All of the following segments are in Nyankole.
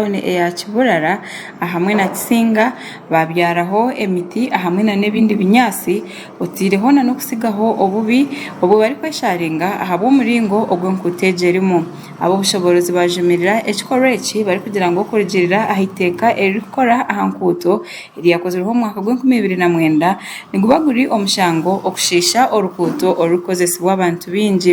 tauni eya Kiburara ahamwe na Kisinga babyaraho emiti ahamwe na n'ebindi binyaatsi oteireho na n'okutsigaho obubi obu barikwesharinga ahabw'omuringo ogu enkuuto egi erimu. Ab'obushoboorozi bajumirira ekikorwa eki barikugira ngu okurugiirira aha iteeka eririkukora aha nkuuto eryakozirweho omu mwaka gw'enkumi ibiri na mwenda niguba guri omushango okushiisha orukuuto orurikukozesibwa abantu baingi.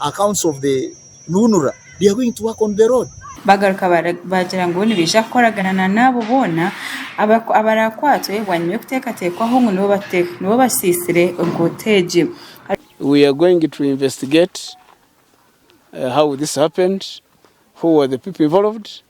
Accounts of the UNRA they are going to work on the road. Bagaruka baagira ngu nibaija kukoragana na n'abo boona abaraakwatwe bwanyima y'okuteekateekwaho ngu nibo basiisire enguuto egi. We are going to investigate how this happened, who were the people involved.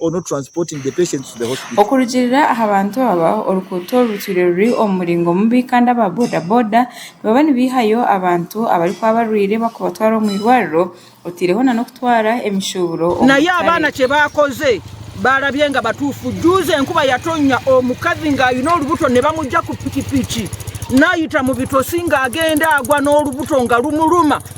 or not transporting the patients to the hospital. Okurugiirira aha bantu aba, orukuuto oru rutwire ruri omu muringo mubi kandi aba boda boda nibaba nibaihayo abantu abarikuba barwaire bakubatwara omu irwariro oteireho na n'okutwara emishuuburo omu Naye abaana katare. kyebakoze barabye nga batuufu juuzi enkuba yatonya omukazi nga ayine orubuto nibamugya ku pikipiki nayita mubitosi nga agenda agwa n'orubuto nga rumuluma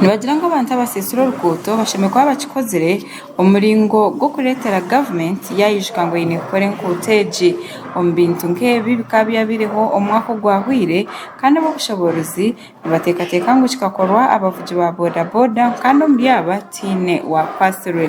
Nibagira ngu abantu abaseesire oruguuto bashemereire kuba bakikozire omu muringo gw'okureetera gavumenti yaayijuka ngu eine kukora enguuto egi omu bintu nk'ebi bikaba byabaireho omu mwaka ogwahweire kandi ab'obushoboorozi nibateekateeka ngu kikakorwa abavugi ba bodaboda kandi omuri aba tihaine waakwatsirwe.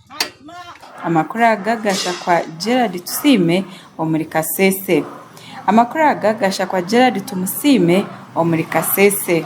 Amakuru aga Gashakwa Gerald Tusiime omuri Kasese Amakuru aga Gashakwa Gerald Tumusiime omuri Kasese.